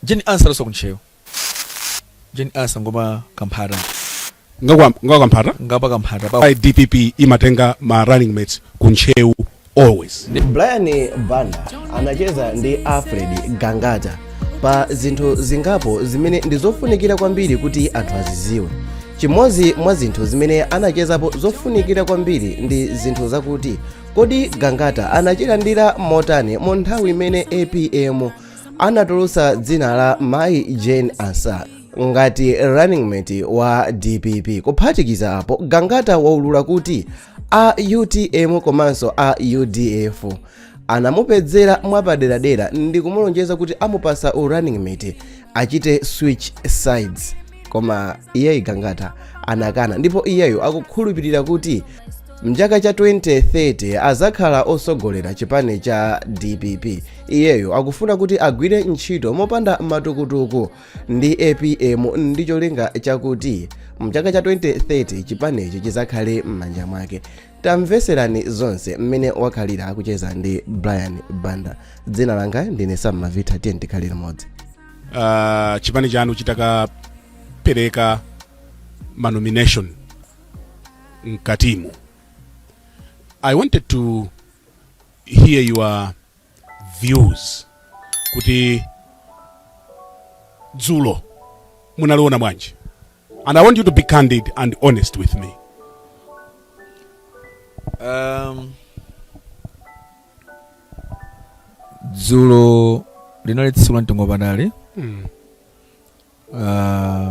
Jane Ansah ndi waso ku Ntcheu. Jane Ansah ngwa kwa Kamphata. Ngwakwa ngwakwa kamphata? Ngwapa Kamphata pa. Why DPP imatenga ma running mates ku Ntcheu always. Brian Banda anacheza ndi Alfred Gangata pa zinthu zingapo zimene ndi zofunikira kwambiri kuti anthu aziziwe. Chimodzi mwa zinthu zimene anachezapo zofunikira kwambiri ndi zinthu zakuti kodi Gangata anachilandira motani mu nthawi imene APM anatulutsa dzina la mayi jane ansah ngati running mate wa dpp kuphatikiza apo gangata waulula kuti a utm komanso a udf anamupezera mwapaderadera ndi kumulonjeza kuti amupatsa u running mate achite switch sides koma iyeyi gangata anakana ndipo iyeyo akukhulupirira kuti mchaka cha 2030 azakhala otsogolera chipani cha dpp iyeyo akufuna kuti agwire ntchito mopanda matukutuku ndi apm ndi cholinga chakuti mchaka cha 2030 chipanichi chizakhale m'manja mwake tamveserani zonse mmene wakhalira akucheza ndi brian banda dzina langa ndine sam mavita tiye tikhale limodzi uh, chipani chanu chitakapereka manomination mkatimu i wanted to hear your views kuti dzulo munaliona bwanji and i want you to be candid and honest with me um, dzulo linali tsiku la mtengo wapatali mm. uh,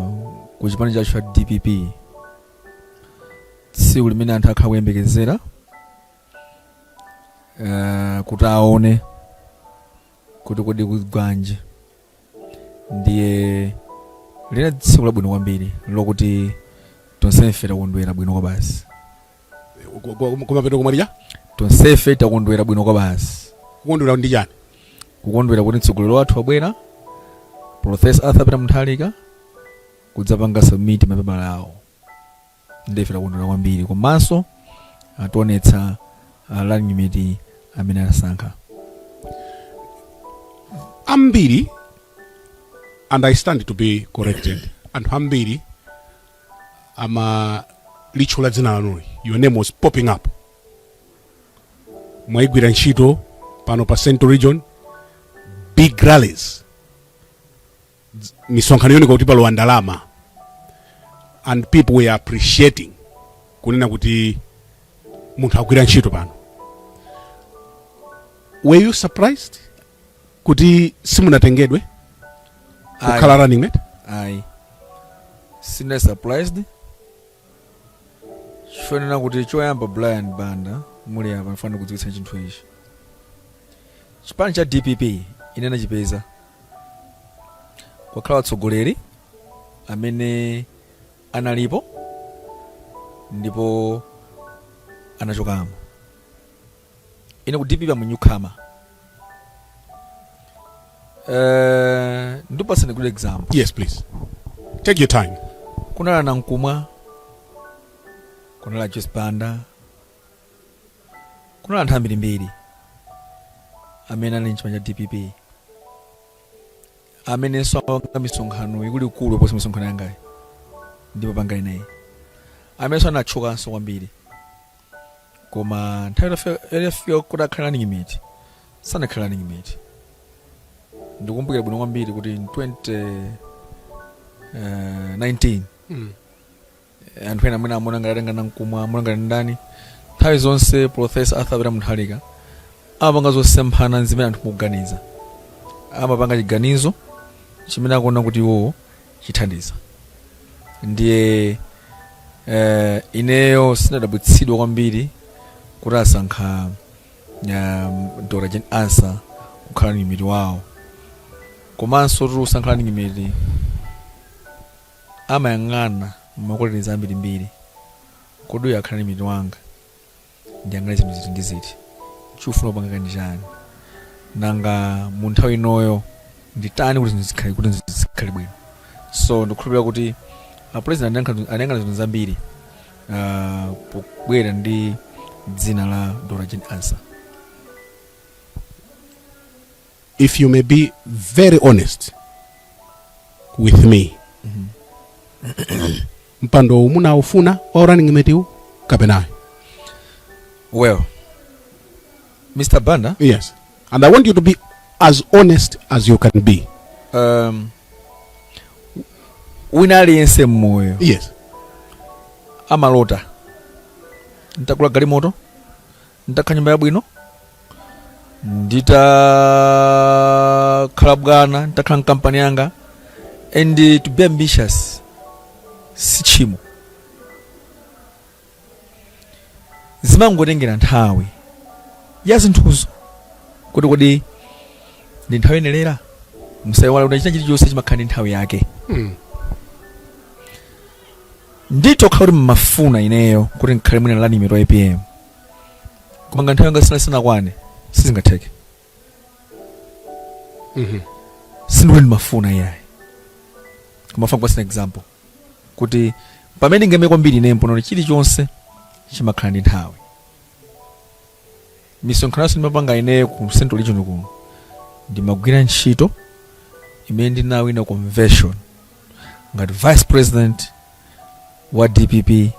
ku chipani chathu cha dpp tsiku limene anthu akhala kuyembekezera uh, kuti aone kuti kodi kugwanji ndiye linali tsiku labwino kwambiri lokuti tonse ife takondwera bwino kwabasi kumapeto komaliza tonsefe takondwera bwino kwabasi kukondwera ndi chani kukondwera kuti mtsogoleri wathu wabwera profesa arthur peter mutharika kudzapanga submit mapepala awo ndife takondwera kwambiri komanso ationetsa uh, running mate amene asankha ambiri and i stand to be corrected anthu ambiri amalitchula dzina lanuli your name was popping up mwaigwira ntchito pano pa central region big rallies dz- misonkhano yooneka kuti palowa ndalama and people were appreciating kunena kuti munthu agwira ntchito pano were you surprised kuti simunatengedwe Ayi. kukhala running mate ayi sine surprised chonena kuti choyamba brian banda muli apa ndifuna ndikudziwitse chinthu ichi chipani cha dpp ine ndinachipeza kwakhala atsogoleri amene analipo ndipo anachokamo ine ku dpp I'm a newcomer eh ndikupatseni good example yes please take your time kunali a nankhumwa kunali joyce banda kunali anthu ambirimbiri amene ali mchipani cha dpp amenenso amapanga misonkhano ikuluikulu kuposa misonkhano yangayi ndipo pangani naye amenenso anatchukanso kwambiri koma nthawi itafika- itafika kuti akhale running mate sanakhala running mate ndikumbukira bwino kwambiri kuti in 2019 Mm. anthu ena amene amaona ngati atenga nankhumwa amaona ngati ndani nthawi zonse profesa arthur peter mutharika amapanga zosemphana ndi zimene anthu mukuganiza amapanga chiganizo chimene akuona kuti iwowo chithandiza ndiye eh, ineyo sinadabwitsidwa kwambiri kuti asankha um, dr jane ansah kukhala running mate wawo komanso kuti usankhe running mate amayang'ana ma qualities ambirimbiri kodi uyu akhala running mate wanga ndiyang'ane zinthu ziti ndi ziti ukufuna kupanga kani chani nanga mu nthawi inoyo nditani kuti zinthu zikhale kuti zinthu zikhale bwino so ndikukhulupirira kuti apresident anayang'ana zinthu zambiri ah, pobwera ndi dzina la dr jane ansah if you may be very honest with me mpando uwu munawufuna wa running mate uwu kapenayo well mr banda yes and i want you to be as honest as you can be um, wina aliyense mmoyo yes amalota ntakula galimoto nditakhala ndi nyumba yabwino nditakhala bwana nditakhala ndi kampani yanga and to be ambitious si tchimo zimangotengera nthawi ya zinthuzo kuti kodi ndi nthawi yoyenerera musaiwale kuti china chilichonse chimakhala ndi nthawi yake Mm. ndithu khala kuti mmafuna ineyo kuti ndikhale mwina running mate wa apm koma ngati nthawi yanga sina sinakwane sizingatheke Mhm. sindikuti ndimafuna iyayi koma ndifuna kukupatsani example kuti pamene ndingeme kwambiri ine mponero chilichonse chimakhala ndi nthawi misonkhano yonse ndimapanga ineyo ku central region kuno ndimagwira ntchito imene ndinawina convention ngati vice president wa dpp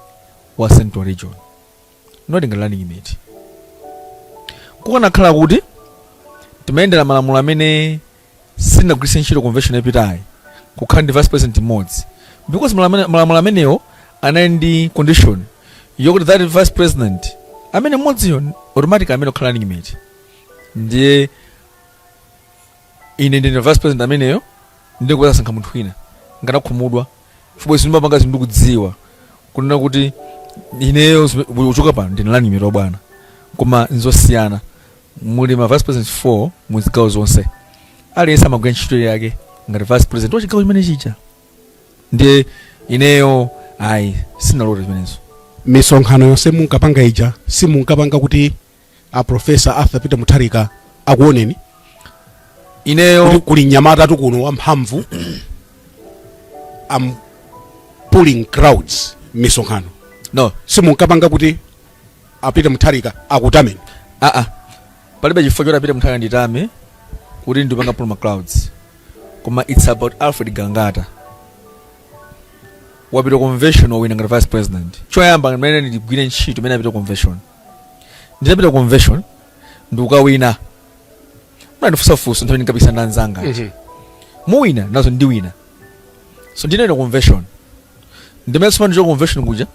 wa central region not ngati running mate kukanakhala kuti timayendera malamulo amene sitinagwiritse ntchito convention yapitayi kukhala ndi vice president mmodzi because malamene- malamulo amenewo anali ndi condition yokuti that vice president amene mmodziyo automatic ndi amene akhala running mate ndiye ine ndine vice president ameneyo ndiye kuti asankha munthu wina ndingakhumudwe chifukwa izi ndimapanga zinthu ndikudziwa kunena kuti ineyo zime- uchoka pano ndine running mate wa bwana koma nzosiyana muli ma vice president 4 mu zigawo zonse aliyense amagwira ntchito yake ngati vice president wa chigawo chimene chija ndiye ineyo ayi sindinalota zimenezo misonkhano yonse munkapanga ija simunkapanga kuti a profesa arthur peter mutharika akuoneni kuti ineyo kuli mnyamata wathu kuno wamphamvu am pulling crowds misonkhano no simunkapanga kuti a Peter Mutharika akutameni aa ah, ah. palibe chifukwa choti a Peter Mutharika anditame kuti ndikupanga pull ma crowds koma it's about Alfred Gangata wapita convention wawina ngati vice president choyamba pamene ndigwire ntchito imene ndinapitira convention ndinapita convention ndikukawina munandifunsa funso nthawi ndinkapikisana ndi anzanga aja. muwina nazo ndiwina so ndinawina convention ndimene ndachoka convention kuja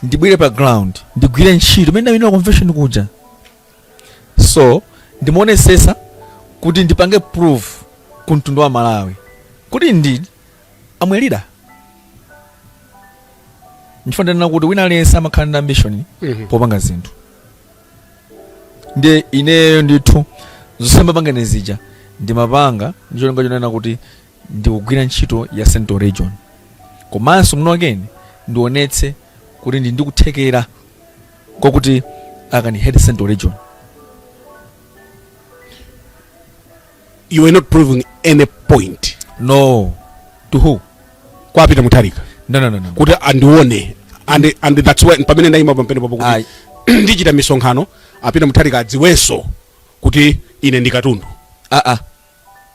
ndibwere pa ground ndigwire ntchito imene ndawinira convention kuja so ndimaonesesa kuti ndipange prove ku mtundu wa malawi kuti indeed I'm a leader ndikunena kuti wina aliyense amakhala ndi ambition popanga zinthu ndiye ineyo ndithu zonse ndimapanga ine zija ndimapanga ndi cholinga chonena kuti ndikugwira ntchito ya central region komanso muno again ndionetse kuti ndili ndi kuthekera kwakuti I can head central region you are not proving any point no to who kwa peter mutharika no no no no kuti andione and and that's why pamene ndaima pompano papo Ayi. kuti ndikuchita misonkhano a peter mutharika adziwenso kuti ine ndi katundu ah ah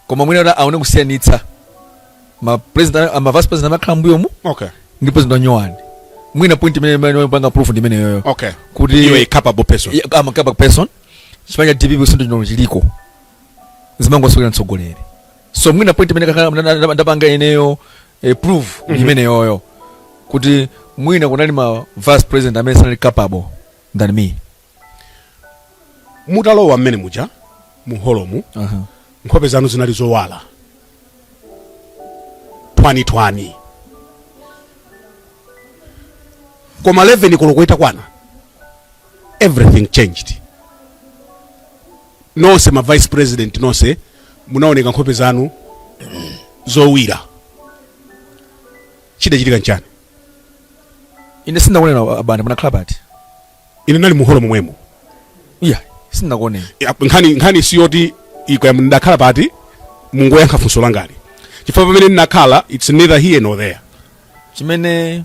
koma mwina kuti aone kusiyanitsa ma president ah, ma vice president amakhala mbuyo mu okay ndi president wanyowani mwina point imene ndimapanga prove ndi imeneyoyo okay Kuti- you are a capable person Yeah, I'm a capable person chipani cha dpp sinto chino chiliko zimangosokera mtsogoleri so mwina point imene kakhala- nda- nda- ndapanga ineyo eh, prove ndi imeneyoyo kuti mwina kunali ma vice president amene sanali capable than me mutalowa mmene muja muholomu Aha. nkhope zanu zinali zowala twani-twani koma 11 koloko itakwana everything changed nonse ma vice president nonse munaoneka nkhope zanu zowawira chidachitika nchani ine sindinakuoneni a Banda munakhala pati ine nali muholo momwemo iya sindinakuoneni Ya, nkhani nkhani siyoti ikaya ndakhala pati mungoyankha funso langali chifukwa pamene ndinakhala its neither here nor there chimene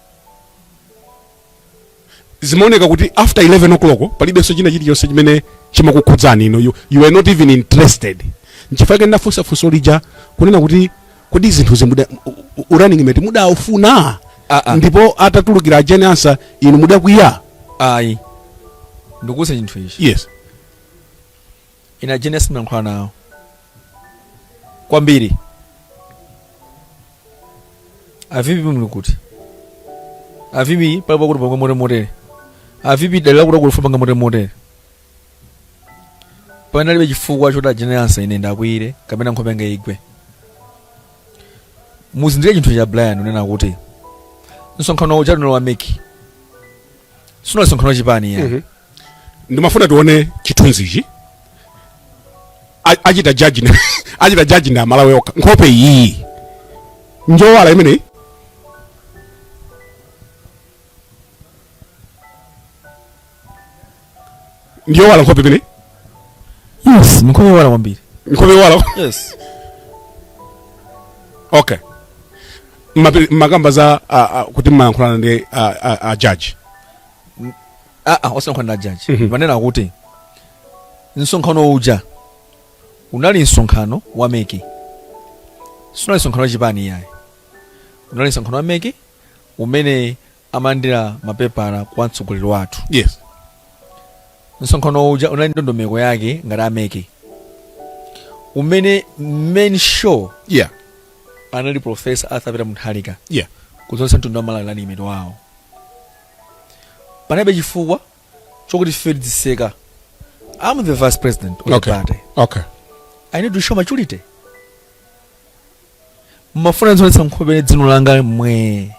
zimaoneka kuti after 11 o'clock palibenso china chilichonse chimene chimakukhudzani inu you, you are not even interested nchifukwa chake ndafunsa funso lija kunena kuti kodi zinthu zimu- da u- u- u- running mate mudaufuna Ah, ah. ndipo atatulukira a Jane Ansah inu mudakwiya ayi ndikuuze chinthu ichi yes ine a Jane Ansah ndimayankhula nawo kwambiri a VP muli kuti a VP pali pakuti tipanga motere motere a VP dali lakuti akulufa panga motere motere panalibe chifukwa choti a Jane Ansah ine ndiwakwiyire kapena nkhope yanga igwe muzindikire chinthu che Brian kunena kuti msonkhano uja unali wa MEC sunali msonkhano wa chipani ya Mhm. ndimafuna tione chithunzichi A- achita judge na- achita judge ndi Amalawi okha nkhope iyi njowala imeneyi ndi yowala nkhope imene yes nkhope yowala kwambiri nkhope yowala yes okay mumakamba za uh, uh, kuti mmayankhulana ndi uh, uh, uh, judge aa ah, ah, osankhwana ndi ajaji mhm. ndimanena kuti msonkhano uja unali msonkhano wa MEC sunali msonkhano wa chipani iyayi unali msonkhano wa MEC umene amalandira mapepala kwa mtsogoleri wathu yes msonkhano uja unali ndondomeko yake ngati a MEC umene main show yeah anali profesa Arthur Peter Mutharika yeah kudzaonetsa mtundu wa Malawi running mate wawo panalibe chifukwa chokuti ife tidziseka I'm the vice president of the okay party okay i need to show maturity mmafuna muzionetsa nkhope mzimu wangomwe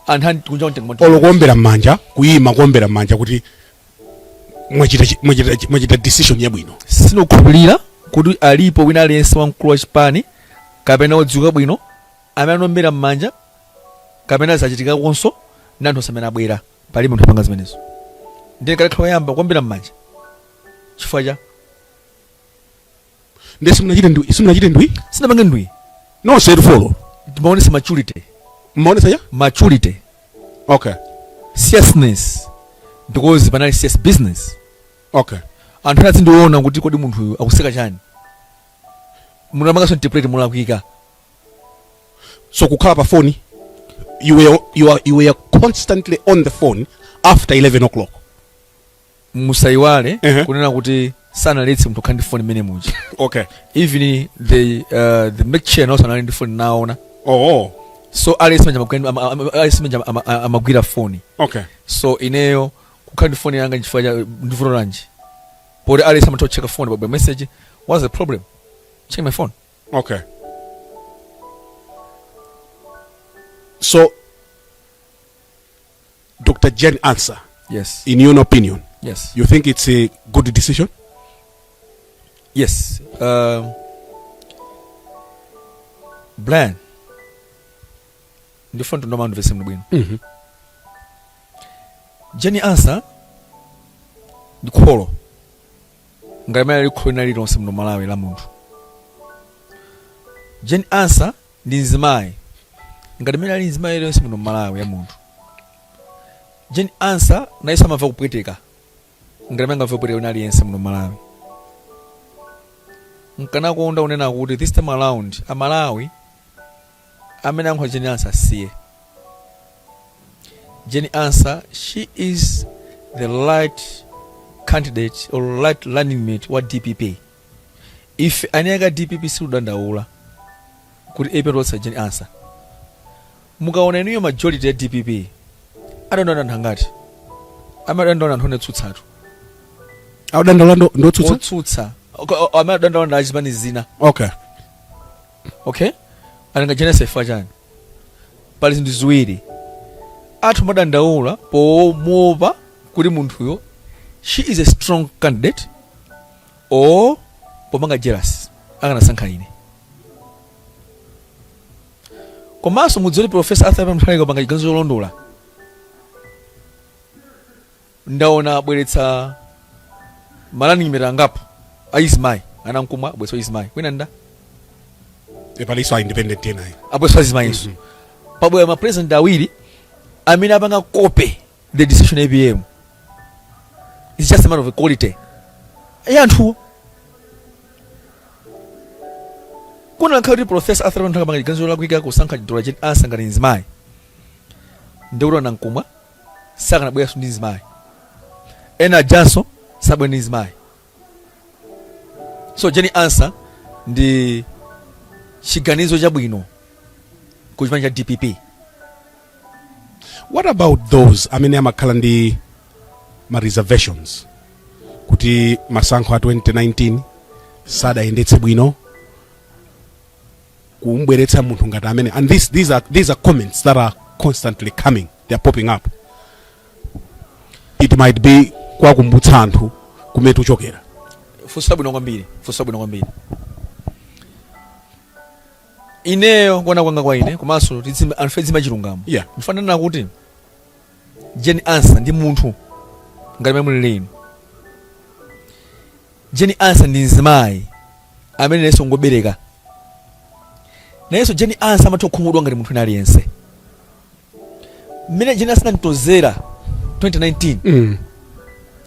anthu ani kunja mtengo mwa- olo kuombera mmanja kuyima kuombera mmanja kuti mwachita chi- mwachita chi- mwachita decision yabwino sindikukhulupirira kuti alipo wina aliyense wamkulu wa chipani kapena wodziwika bwino amene anaombera mmanja kapena zachitikakonso ndi anthu onse amene abwera pali munthu apanga zimenezo ndiye akanakhala oyamba kuombera mmanja chifukwa cha nde simunachite ndwii simunachite ndwii sindinapange ndwii no sorrowful timaonesa maturity mmaonesa ya maturity okay seriousness because panali serious business okay anthu ena azindiona kuti kodi munthu uyu akuseka chani mukanapanganso interpret molakwika so kukhala pa phone you were, you, are, you were constantly on the phone after 11 o'clock musayiwale Ehe. kunena kuti sanaletse munthu kukhala ndi foni mmene muja okay even the uh, the chair nawonso anali ndi foni ndinaona oh so aliyense manja amagwira- ama- ama- aliyense manja ama- ama- amagwira foni okay so ineyo kukhala ndi foni yanga nchifukwa cha ndivuto lanji poti aliyense amatha kucheka foni pabwera message what's the problem check my phone okay so Dr. Jane Ansah, yes in your opinion, yes you think it's a good decision? yes um, brian ndifuna anthu andimvetsetse bwino Mhm. Jane Ansah ndi kholo ngati mmene lili kholo lina lililonse muno malawi la munthu Jane Ansah ndi mzimayi ngati mmene ali mzimayi aliyense muno mmalawi wa munthu Jane Ansah nayenso amamva kupweteka ngati mmene angamvere kupweteka wina aliyense muno mmalawi nkanakonda kunena kuti this time around amalawi amene akunyoza Jane Ansah asiye Jane Ansah she is the right candidate or right running mate wa dpp Ife eni ake a dpp sitikudandaula kuti apm atulutsa Jane Ansah. Mukaona inuyo majority ya dpp akudandaula anthu angati? Amene akudandaula ndi anthu otsutsatu. Akudandaula ndi otsutsa? Otsutsa. Amene akudandaula ndi azipani zina. Okay. Okay? Akudana ndi Jane Ansah chifukwa chani? Pali zinthu ziwiri. Anthu amadandaula pomuopa kuti munthuyo she is a strong candidate osapanga jealous akanasankha ine komanso mudziwe kuti Professor Arthur Peter Mutharika apanga chiganizo cholondola ndaona abweretsa ma running mate angapo azimayi a Nankhumwa abweretsa mzimayi kwina ndaona palinso a independent ena abweretsa mzimayinso pabwera mapresident awiri amene apanga copy the decision ya APM it's just a matter of quality ya anthuwo kunakhala kuti Professor Arthur Mutharika apanga chiganizo cholakwika kusankha Doctor Jane Ansah ngati nzimayi ndikuti a Nankhumwa sakanabweranso ndi nzimayi ena ajanso sabwera ndi nzimayi so Jane Ansah ndi chiganizo chabwino ku chipani cha dpp what about those amene amakhala ndi ma reservations kuti masankho a 2019 sadayendetse bwino kumbweretsa munthu ngati amene and these are comments that are constantly coming they are popping up it might be kwakumbutsa anthu kumene tuchokera funso labwino kwambiri funso labwino kwambiri ineyo kuona kwanga kwa ine komanso tizima- anthu ofuna chilungamo Yeah. ndifuna ndinene kuti Jane Ansah ndi munthu ngati mene mulili inu Jane Ansah ndi mzimayi amene nayenso ngobereka nayenso Jane Ansah amatha kukhumudwa ngati munthu wina aliyense mmene Jane Ansah tinamtonzera 2019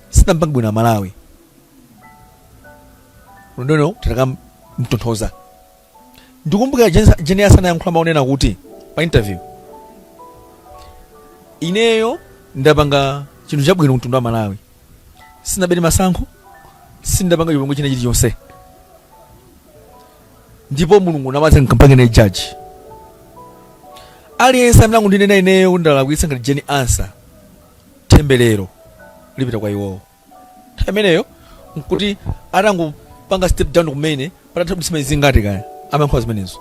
sitinampange bwino amalawi tikanamtonthoza ndikumbukira Jane Ansah anayankhula mau onena kuti pa interview ineyo ndapanga chinthu chabwino ku mtundu wa malawi sindinabere masankho sindapanga chipongwe china chilichonse ndipo mulungu ndi amene akampange judge aliyense amene akundinena ineyo kuti ndalakwitsa ngati Jane Ansah temberero lipita kwa iwowo nthawi imeneyo nkuti atangopanga step down kumene patatha masiku angati kaya amayankhula zimenezo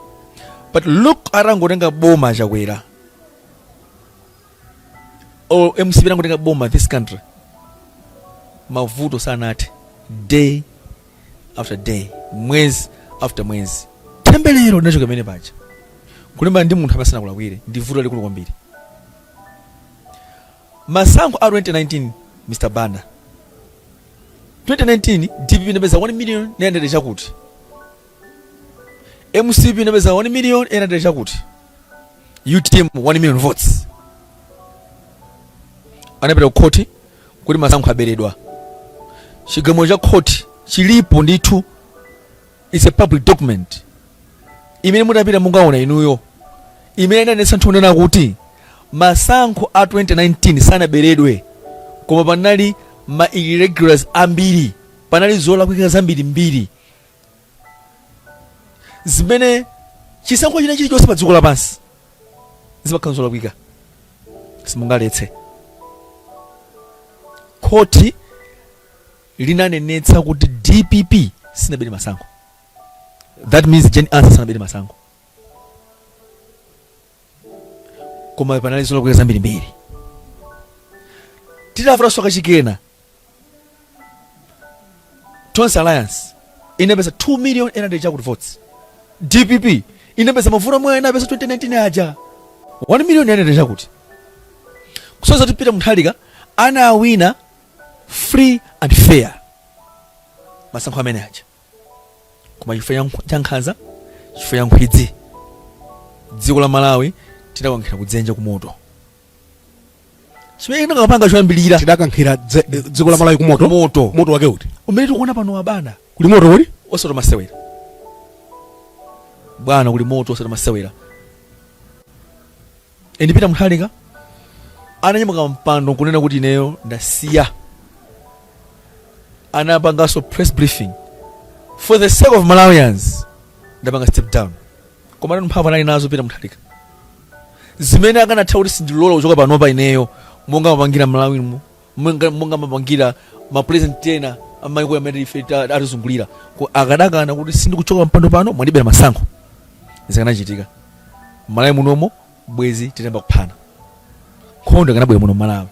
but look atangotenga boma Chakwera or mcp itangotenga boma this country mavuto sanathe day after day mwezi after mwezi temberero linachoka pamenepaja kulimbana ndi munthu amene sanakulakwire ndi vuto lalikulu kwambiri masankho a 2019 mr banda 2019 dpp inapeza 1 million 900 chakuti mcp inapeza 1 million 800 chakuti utm 1 million votes anapita ku khoti kuti masankho aberedwa chigamulo cha khoti chilipo ndithu its a public document imene mutapita mungaona inuyo imene inanenetsa ndithu kunena kuti masankho a 2019 sanaberedwe koma panali ma irregularities ambiri panali zolakwika zambiri mbiri zimene chisankho china chilichonse pa dziko lapansi zimakhala zolakwika simungaletse khoti linanenetsa kuti dpp sinabere masankho that means jane ansah sanabere masankho koma panali zolakwika zambirimbiri titafuta soka chikena tonse alliance inapeza 2 million and chakuti votes dpp inapeza mavoti omwe inapeza 2019 aja 1 million and chakuti kusonyeza kuti pita muthalika anawina free and fair masankho amene aja koma chifukwa cha nkh- cha nkhanza chifukwa cha nkhwidzi dziko la malawi tidakankhira kudzenje kumoto chimene tinakapanga choyambirira tidakankhira dze- eh, dziko la malawi kumoto moto moto wake uti umene tikuona pano abwana kuli moto kuli osati masewera bwana kuli moto osati masewera eni pita muthalika ananyamuka pampando nkunena kuti ineyo ndasiya anapanganso press briefing for the sake of malawians ndapanga step down koma nanu mphamvu anali nazo pita muthalika zimene akanatha kuti sindilola kuchoka panopa ineyo monga amapangira malawi mu monga monga amapangira ma president ena amaiko amene ife ta- atizungulira Ko- akadakana kuti sindikuchoka pampando pano mwandibera masankho zikanachitika malawi munomo bwezi titayamba kuphana nkhondo ikanabwera muno malawi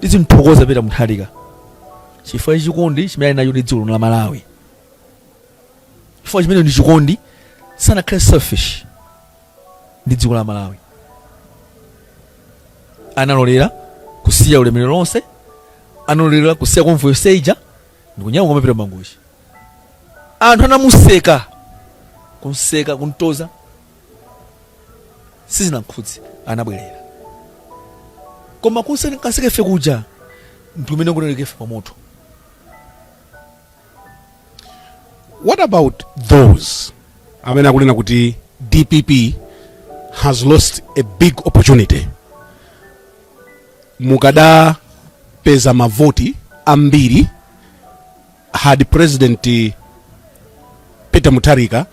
tizimthokoza pita muthalika chifukwa chikondi chimene ali nacho ndi dziko lino la malawi chifukwa chimene ndi chikondi sanakhale selfish ndi dziko la malawi analolera kusiya ulemerero lonse analolera kusiya convoy yonse ija ndikunyamuka kumapita mangochi anthu anamuseka kumseka kumtoza sizinamkhudze anabwerera koma kumseka ife kuja ndikumene kunenekefe pa moto What about those amene akunena kuti dpp has lost a big opportunity mukadapeza mavoti ambiri had president peter mutharika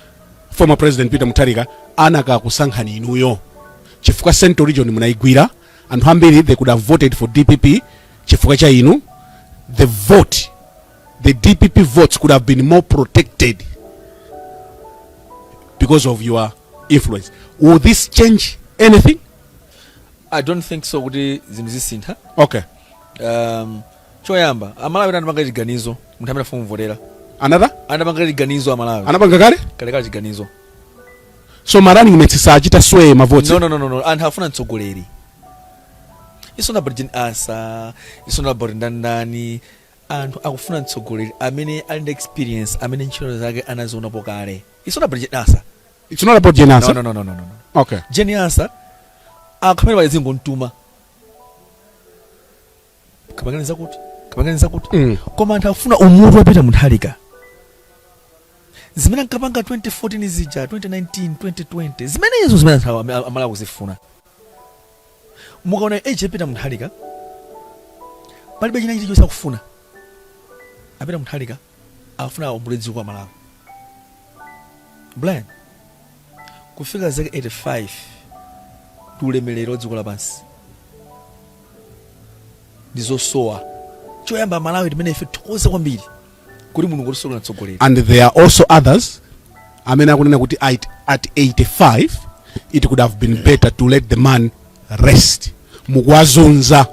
former president peter mutharika akanakusankhani inuyo chifukwa central region munayigwira anthu ambiri they could have voted for dpp chifukwa cha inu the vote The dpp votes could have been more protected because of your influence. Will this change anything? i don't think so kuti zinthu zisintha Okay. um, choyamba amalawi anapanga chiganizo munthu amene afuna kumvotera Another? anapanga chiganizo amalawi Anapanga kale? kalekale chiganizo So ma running mates sachita sway ma votes. no, no, no, no, no. anthu afuna mtsogoleri it's not about Jane Ansah, it's not about ndani ndani Anthu akufuna mtsogoleri amene ali ndi experience, amene ntchito zake anazionapo kale. It's not about Jane Ansah. It's not about Jane Ansah. No, no, no, no, no, no. Okay. Jane Ansah akamene pazingomutuma. Kapangani zakuti, kapangani zakuti. Mm. Koma anthu akufuna umutu wa Peter Mutharika. Zimene ankapanga 2014 zija, 2019, 2020. Zimenezo zimene anthu amalawi akuzifuna. Mukaona age ya Peter Munthalika palibe china chilichonse akufuna. A Peter Munthalika akufuna aombole dziko la Malawi. Brian kufika zaka 85 ndi ulemerero wa dziko lapansi ndizosowa choyamba Malawi timene ife tithokoza kwambiri kuti mulungu watisungira mtsogoleri and there are also others amene akunena kuti at, at 85 it could have been better to let the man rest mukuwazunza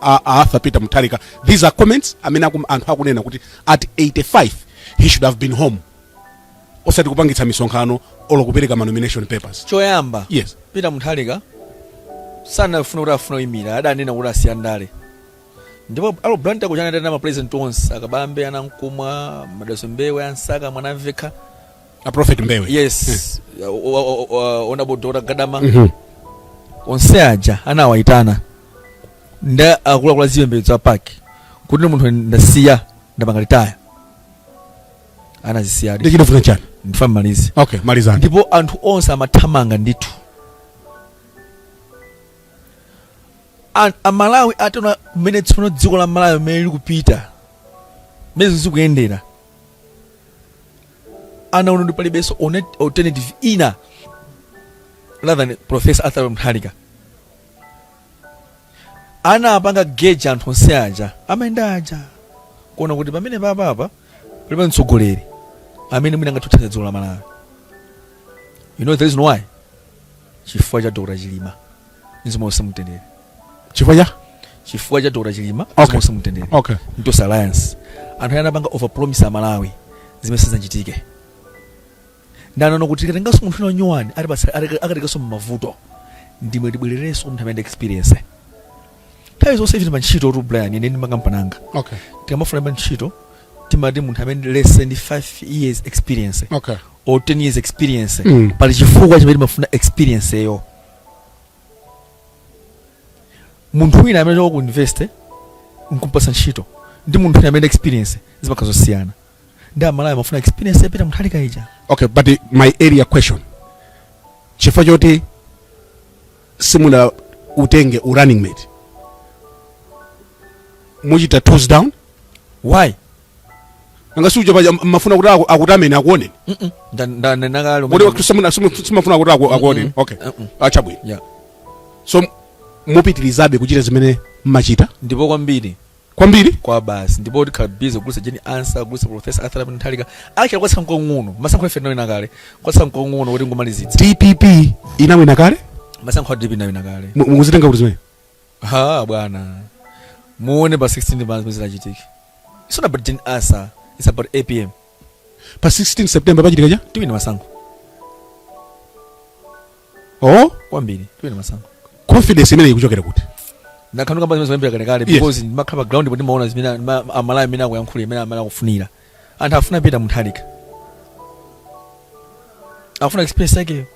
a, a arthur peter mutharika these are comments amene akum, anthu akunena kuti at 85 he should have been home osati kupangitsa misonkhano olo kupereka manomination papers choyamba yes peter mutharika sanafuna kuti afuna ayimire adanena kuti asiya ndale ndipo ali ku Blantyre kuja anatenga ma president onse akabambe anankhumwa madalitso mbewe amsaka mwanamvekha a prophet mbewe yes O- o- o- o- honorable dr gadama Mhm. onse aja anawayitana ndi akuluakulu a zipembedzo a PAC kuti ine munthu ndasiya ndapanga retire anazisiyadi nde chifukwa chani ndifuna ndimalize okay malizani ndipo anthu onse amathamanga ndithu A a Malawi ataona mmene tsopano dziko la Malawi mmene likupita mmene zinthu zikuyendera anaona kuti palibenso one- alternative ina rather than Professor Arthur Mutharika anapanga gauge anthu onse aja amayenda aja kuona kuti pamene papapa palibe mtsogoleri amene mwina angathe kuthandiza dziko la Malawi you know the reason why chifukwa cha dr chilima mzimu wonse mtendere chifukwa cha chifukwa cha dr chilima Okay. mzimu wonse mtendere okay ntos alliance anthu ayi anapanga overpromise amalawi zimene sizanchitike ndanono kuti tikatenganso munthu wina wanyowani akatikanso mmavuto ndimwe tibwererenso munthu amene experience nthawi zonse ife tili pantchitotu brian ine ndi makampani anga okay tikamafuna pa ntchito timati munthu amene less than 5 years experience okay or 10 years experience Mm. pali chifukwa chimene timafuna experience-yo munthu wina amene achoka ku university nkumpatsa ntchito ndi munthu wina amene ali ndi experience zimakhala zosiyana nde amalawi amafuna experience ya peter mutharika ija okay but uh, my earlier question chifukwa choti simunautenge u running mate muchita tools down why nanga siuja paja mmafuna kuti aku- akutameni akuoneni Mm-mm. Nda- nda- nda- ndanena kale kuti manje- simuna- simu- simmafuna kuti aku- akuoneni okay Mm-mm. ah chabwino Yeah. so mupitirizabe kuchita zimene mmachita ndipo kwambiri kwambiri kwabasi ndipo tikhala busy kugulitsa jane ansah kugulitsa profesa arthur Abner mutharika okay kwatsala nkung'ono masankho ife tinawina kale kwatsala nkung'ono kuti tingomalizitsa dpp inawina kale masankho a dpp inawina kale Mu- mukuzitenga kuti zimene ha bwana muone pa 16 pa zimene zidzachitike it's not about jane ansah it's about apm pa 16 september pachitika chani tiwina masankho oh kwambiri tiwina masankho confidence imene ikuchokera kuti ndakhala ndikukamba zimenezi kuyambira kalekale Yes. because ndimakhala pa ground ndipo ndimaona zimene ma- amalawi amene akuyankhula mmene amene akufunira anthu afuna peter mutharika afuna experience yake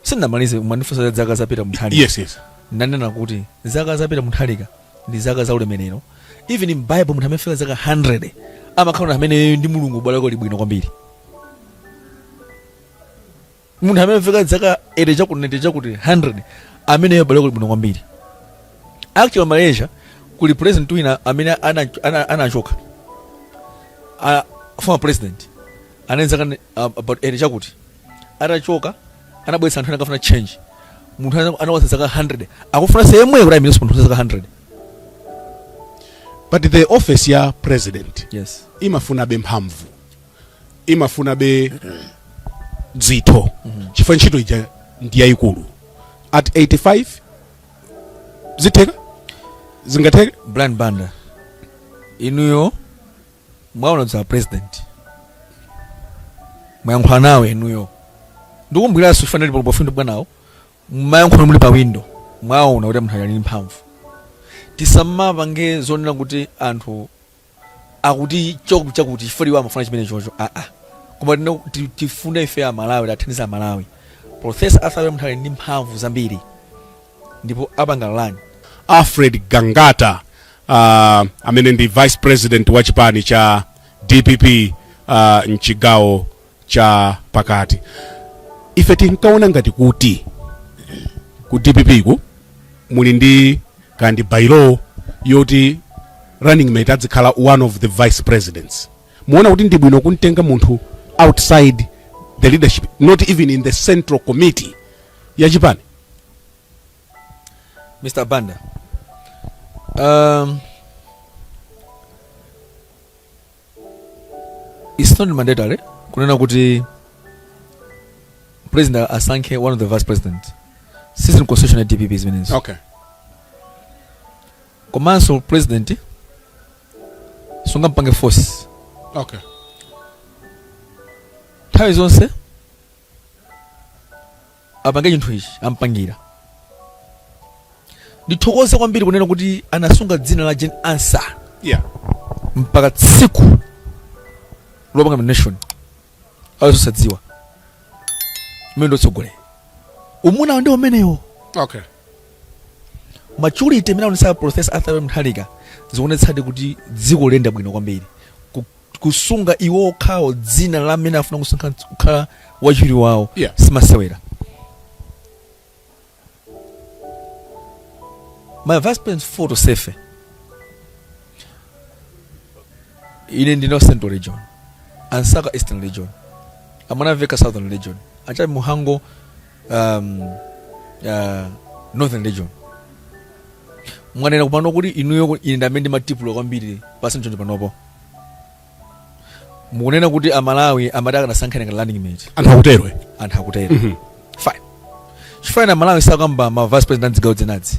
sindinamalize munandifunsa za zaka za peter mutharika yes yes ndanena kuti zaka za peter mutharika ndi zaka za ulemerero even in bible munthu amene afika zaka 100 amakhala amene ndi mulungu ubale wake uli bwino kwambiri munthu amene afika zaka 80 chakuti 90 chakuti 100 ameneyo ubale wake uli bwino kwambiri actually malaysia kuli president wina amene ana- ana- anachoka ana former president anali zaka ne- uh, about 80 chakuti atachoka anabweretsa anthu ena akafuna change munthu ana- anakwanitsa zaka 100 akufuna yemweyo kuti ayimirenso munthu wa zaka 100 but the office ya president yes imafunabe mphamvu imafunabe dzitho chifukwa ntchito ija ndi yayikulu at 85 zitheka zingatheke brian banda inuyo mwaona za president mwayankhula nawo inuyo ndikumbwiranso sikufanana ndi polopo findo bwanawo mwayankhula muli pa windo mwaona kuti munthu ali ndi mphamvu tisamapange zonena kuti anthu akuti chakuti chakuti chifukwa iwo amafuna chimene chocho aa ah, ah. koma ti tifuna ife a Malawi tathandiza a Malawi Professor Arthur munthu ali ndi mphamvu zambiri ndipo apanga lan Alfred Gangata uh, amene ndi vice president wa chipani cha DPP uh, mchigawo cha pakati ife tinkaona ngati kuti ku dpp ku muli ndi ka bylaw yoti running mate adzikhala one of the vice presidents muona kuti ndi bwino kumtenga munthu outside the leadership not even in the central committee ya chipani mr banda um, It's not mandatory kunena kuti president asankhe one of the vice president sizili mu constitution ya dpp zimenezo okay komanso president sungampange force okay nthawi zonse apange chinthu ichi ampangira ndithokoze kwambiri kunena kuti anasunga dzina la Jane Ansah yeah mpaka tsiku lopanga nomination azosadziwa mmene utsogoleri umunawo ndi umenewo okay maturity imene aonesa professor arthur Mutharika zikuonetsadi kuti dziko liyenda bwino kwambiri Ku- kusunga iwo okhawo dzina la amene afuna kusankha kukhala wachiwiri wawo Yeah. simasewera ma vice president four tonsefe ine ndine wa central region Bright Msaka eastern region a Mwanamvekha southern region a Jappie Mhango um, uh, northern region mwanena apano kuti inuyo ine ndamene ndimatipula kwambiri pasi mchonjo panopo mukunena kuti amalawi amati akanasankha ngati running mate anthu akutero anthu akutero fine chifukwa amalawi sakamba ma vice president amzigawo dzinadzi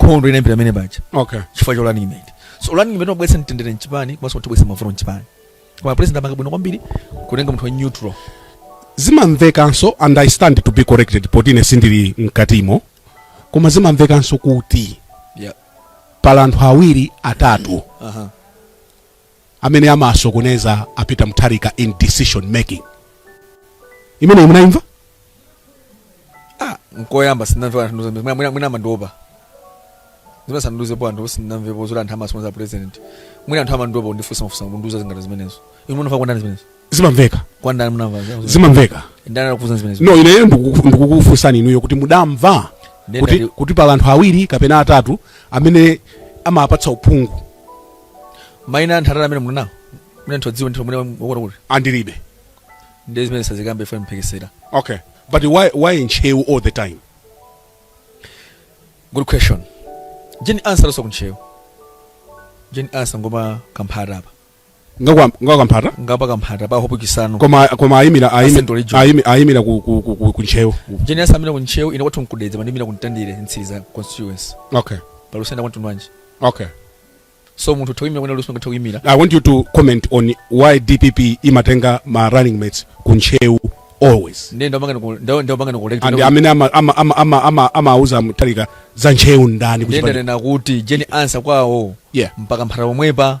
nkhondo inayambira mmene paja okay chifukwa cha running mate so running mate wabweretsa mtendere mchipani komanso kutibweretsa mavuto mchipani koma president apanga bwino kwambiri kutenga munthu wa neutral zimamvekanso and i stand to be corrected poti ine sindili mkatimo koma zimamvekanso kuti yeah pali anthu awiri atatu aha amene amasokoneza a Peter Mutharika in decision making imeneyi munayimva nkoyamba sinamve anthu nduze mwina mwina- mwina amandiopa zimene sanandiuzepo anthu sinamvepo zoti anthu amasokoneza president mwina anthu amandiopa kundifunsa mafunso kundiuza zingati zimenezo inu munamva kwa ndani zimenezo zimamveka kwa ndani munamva zimamveka ndani anakufunsa zimenezo no ineyo ndikuku- ndikukufunsani inuyo kuti mudamva Ndenda kuti, ndi- kuti pali anthu awiri kapena atatu amene amapatsa uphungu maina anthu atatu amene munawo mwina anthu odziwa ndithu mwina wakuti kuti andilibe ndi zimene sazikambe fo mphekesera okay but why, why in Ntcheu all the time good question Jane Ansah also ku Ntcheu Jane Ansah ngwa pa Kamphata apa ngwa kwa ngwa Kamphata ngwa pa Kamphata pa hope chisano koma koma ayimira ayimi- Central region. ayimi- ayimira ku ku ku- ku- ku ntcheu Jane Ansah waimira ku ntcheu ine kwathu nku Dedza pandimira ku Mtandire Mtsiriza constituency okay pa lusenda kwanthu nwanje okay so munthu atha kuimira kwina kulikonse angathe kuimira i want you to comment on why dpp imatenga ma running mates ku ntcheu always ndiye ndapangana ku ndawo ndapangana ku and amene ama- ama- ama- ama- ama- amauza Mutharika za ntcheu ndani ku ndiye chipani- ndanena kuti Jane Ansah kwawo yeah m'pa Kamphata pomwepa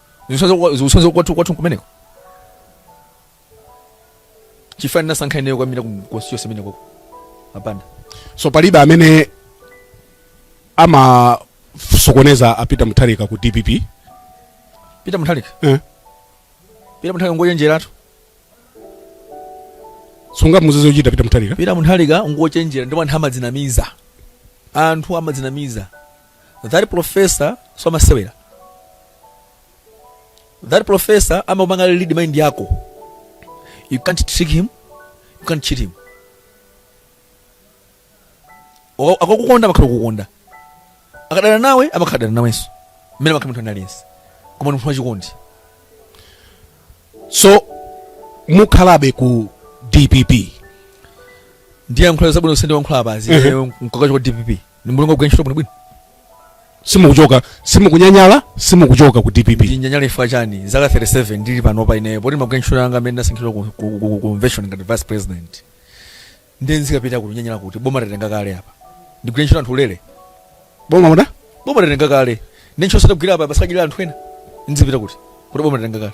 zikusonyeza kwathu kwathu kumeneko chifukwa chani nasankha ineyo kukaimira ku constituency imene koko apanda so palibe amene amasokoneza a Peter Mutharika ku dpp Peter Mutharika eh. Peter Mutharika ngochenjeratu sungamuuze zochita Peter Mutharika Peter Mutharika ngochenjera ndipo anthu amadzinamiza anthu amadzinamiza that professor so amasewera that professor amapanga read mind yako you can't trick him you can't cheat him O- akakukonda amakhala akukonda akadana nawe amakhala adana nawenso mmene amakhala munthu wina aliyense koma munthu wachikondi so mukhalabe ku dpp ndiyankhula zabwino zonse ndayankhula apazi nkachoka ku dpp ni mulungu akugwira ntchito bwinobwino simukuchoka simukunyanyala simukuchoka ku dpp ndinyanyala chifukwa chani zaka 37 ndili panopa ineyo poti ndimagwira ntchito yanga amene ndasankhidwa ku- ku- ku- ku convention ngati vice president ndiye nzikapita kuti nyanyala kuti boma tatenga kale apa ndigwira ntchito anthu ulere boma muda boma tatenga kale ndi ntchito sadagwira apa pasakajira anthu ena nzipita kuti kuti boma tatenga kale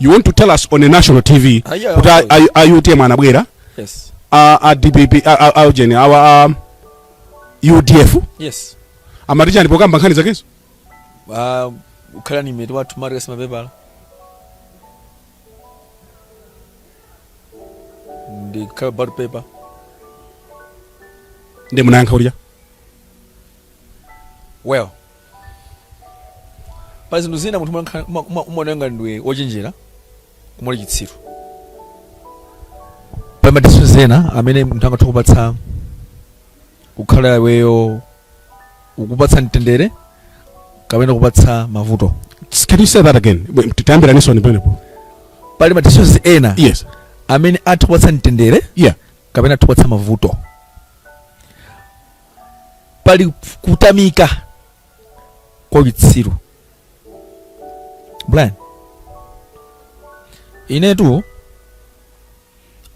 you want to tell us on a national tv Ah, yeah, kuti of a- course. a- a utm anabwera yes a a dpp a- a- a ujeni awa a udf yes amati chani pokamba nkhani zakezo Ah, ukhala running mate wathu marius mapepala ndikhala pa ballot paper ndiye munayankha ulija well Pali zinthu zina munthu umaoneka ngati ndiwe wochenjera koma uli chitsiru. Pali madisishoni ena amene munthu angathe kupatsa kukhala iweyo ukupatsa mtendere kapena kupatsa mavuto. Can you say that again? Titayambiraninso pamenepo. Pali madisishoni ena yes. amene atha kupatsa mtendere yeah. kapena atha kupatsa mavuto. pali kutamika kwa chitsiru Brian inetu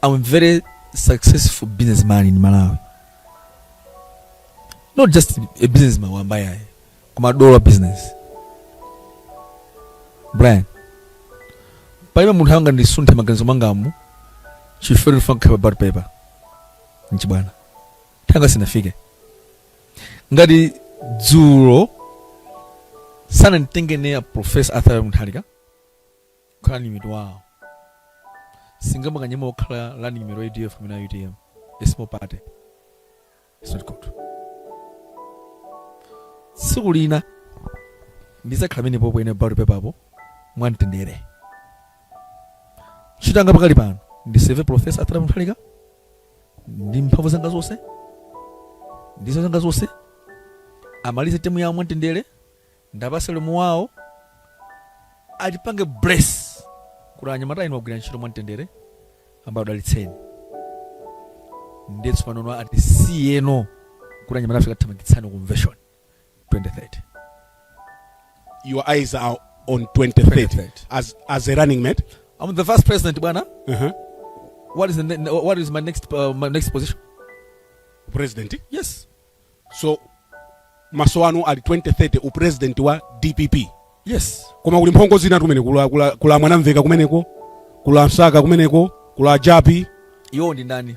i'm very successful businessman in malawi not just a businessman wamba ayi koma dollar business brian palibe munthu angandisunthe maganizo mangamu chifukwa chofuna kukhala pa ballot paper n'chibwana nthawi yanga sinafike ngati dzulo sananditenge ine a professor arthur Mutharika kukhala running mate wawo sindingamakanyeme wokhala running mate wa UDF kumene a UTM a small party It's not good tsiku lina ndizakhala amene pompo ine ballot paper apo mwamtendere ntchito yanga pakali pano ndiseve professor arthur munthalika ndi mphamvu zanga zonse ndi nzeru zanga zonse amalize temu yawo mwamtendere ndiwapatse ulemu wawo atipange bless kuti anyamata inu agwira ntchito mwamtendere Ambuye akudalitseni ndiye tsopano atisiyeno kuti anyamata ife kathamangitsani convention 2030. Your eyes are on 2030, 2030. as as a running mate. I'm the vice president, bwana. Uh-huh. What is the ne- what is my next uh, my next position? President. Yes. So maso anu ali 2030 upresident wa DPP. Yes. Koma kuli mphongo zina kumeneko kuli a kuli a, kuli a Mwanamvekha kumeneko, kuli a Msaka kumeneko, kuli a Jappie. Iwo ndi ndani?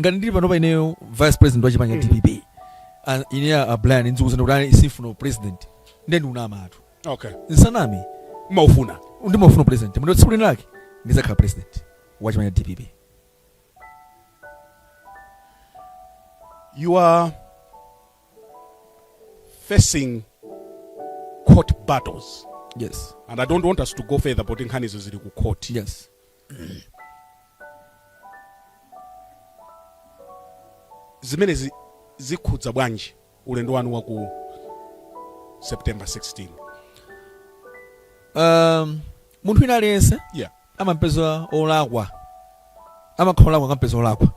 ngati ndili panopa ineyo vice president wa chipani cha dpp ah, ine a brian ndizikuuzani kuti ayi sindifuna upresident nde ndikunamatu okay musaname mumaufuna ndimaufuna upresident moti tsiku lina lake ndizakhala president wa chipani cha dpp you are facing court battles yes and i don't want us to go further poti nkhanizo zili ku court yes Zimenezi zikhudza bwanji ulendo wanu wa ku September 16? Um, munthu wina aliyense Yeah. amampeza olakwa amakhala olakwa akampeza olakwa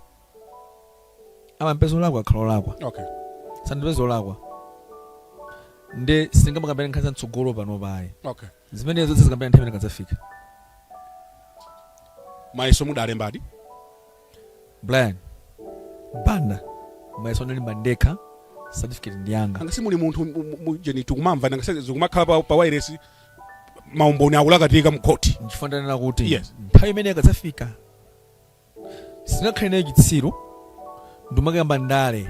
amampeza olakwa akhala olakwa Okay. sandipeza olakwa nde singamakambe nkhani za mtsogolo panopa iyayi Okay. Zimenezo tidzakambirana nthawi imene ikadzafika. Mayeso mudalembadi? Brian Banda, Mayeso ndinalemba ndekha, certificate ndi yanga. Nanga simuli munthu mu- mu- mu- jeni tikumamva nanga se- zikumakhala pa, pa wairesi maumboni akulakatika mkhoti. Nchifukwa ndanena kuti Yes. nthawi imene ikadzafika singakhale nayo chitsiru ndimakamba ndale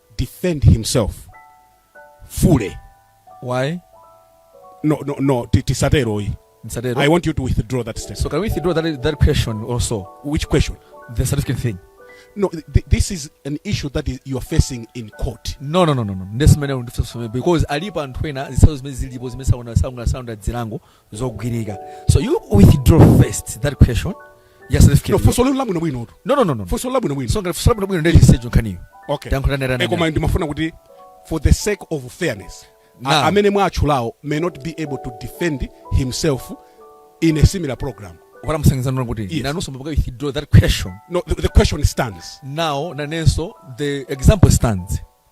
defend himself fully why no no no ti- tisatero yi Msatero. i want you to withdraw that statement so can we withdraw that, that question also which question the certificate thing no th- th- this is an issue that is, you are facing in court no no no no no ndesimene ndifusome because alipo anthu ena zisazo zimene zilipo zimene sauna sauna sauna dzilango zogwirika so you withdraw first that question yes certificate no funso lino labwino bwino tu no no no no funso labwino bwino so ngati funso labwino bwino ndiye chisecho nkhaniyo okay talankhulana e koma ndimafuna kuti for the sake of fairness nah. amene mwatchulawo may not be able to defend himself in a similar program what I'm saying is not good. Yes. Nanunso withdraw that question. No, the, the question stands. Now nanenso the example stands.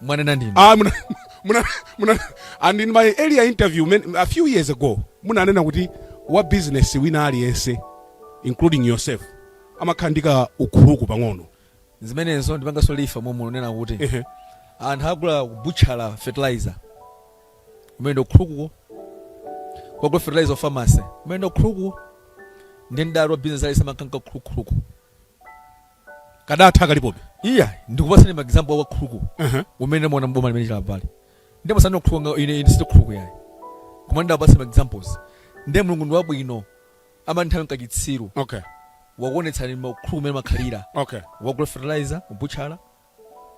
mwanena ndinu Ah, muna, muna, muna, and in my earlier interview men, a few years ago munanena kuti wa business wina aliyense including yourself amakhala ndi kaukhuluku pang'ono zimenezo ndipanganso clarify momwe ndinena kuti Ehe. anthu agula kubutchala fertilizer umene ndi ukhulukuwo agula fertilizer pharmacy umene ndi ukhulukuwo ndiye ndati wa business aliyense amakhala ndi kaukhuluku kadatha kalipobe. Iyayi, ndikupatseni ma example a ukhuluku Uh-huh. umene ndamuona m'boma limene chilipali. Ndiye musandinene khuluku nga ine ine sindine khuluku yayi. Koma ndakupatsani ma examples. Ndiye Mulungu ndi wabwino. Amati nthawi nkachitsiru. Okay. Wakuonetsani ma khuluku mene makhalira. Okay. Wagula fertilizer, butchala,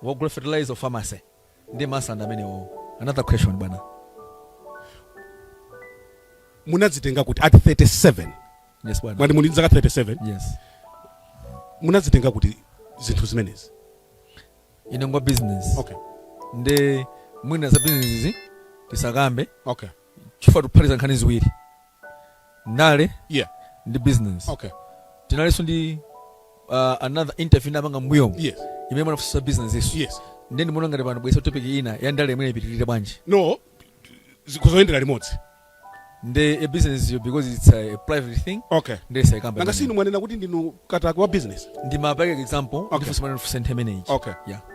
Wogula fertilizer pharmacy ndi ma scandal amenewo. Another question bwana. Munadzitenga kuti at 37? Yes bwana. Mwati muli ndi zaka 37? Yes. Munadzitenga kuti zinthu zimenezi? Ine ngwa business. Okay. Nde mwina za business izi tisakambe. Okay. chifukwa tikuphatikiza nkhani ziwiri ndale yeah. ndi business okay. tinalinso ndi uh, another interview tinapanga mbuyomo yes. imene munafunsa business zanuzo yes. nde ndimaona ngati pano tabweretsa topic ina ya ndale imene ipitirire bwanji no zikuyendera limodzi nde a business yo because it's a, a private thing okay nde tisaikambe nanga si inu mwanena kuti ndinu katakwe wa business ndimapereka example okay. ndifunsa mwana ndifunsa nthawi imeneyi okay yeah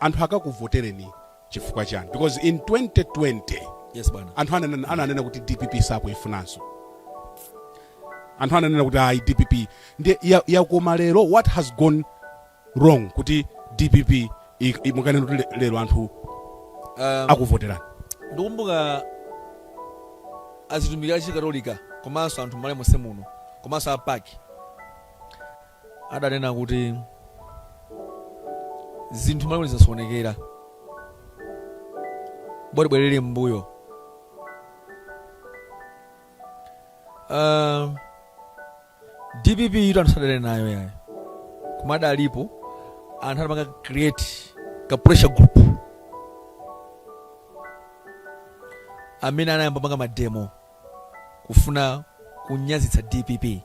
anthu akakuvotereni chifukwa chani because in 2020 Yes bwana. anthu ananena, ananena kuti dpp sakuifunanso anthu ananena kuti ayi dpp ndiye ya- yakoma lero what has gone wrong kuti dpp i- i- mukanena kuti le- lero anthu Um, akuvoterani ndikumbuka atumiki a Chikatolika komanso anthu mmalawi monse muno komanso a PAC adanena kuti zinthu m'Malawi zasokonekera, bora tibwerere m'mbuyo. Uh, dpp yitu anthu sadadane nayo ayi koma adalipo anthu adapanga create ka pressure group amene anayamba panga mademo kufuna kunyazitsa dpp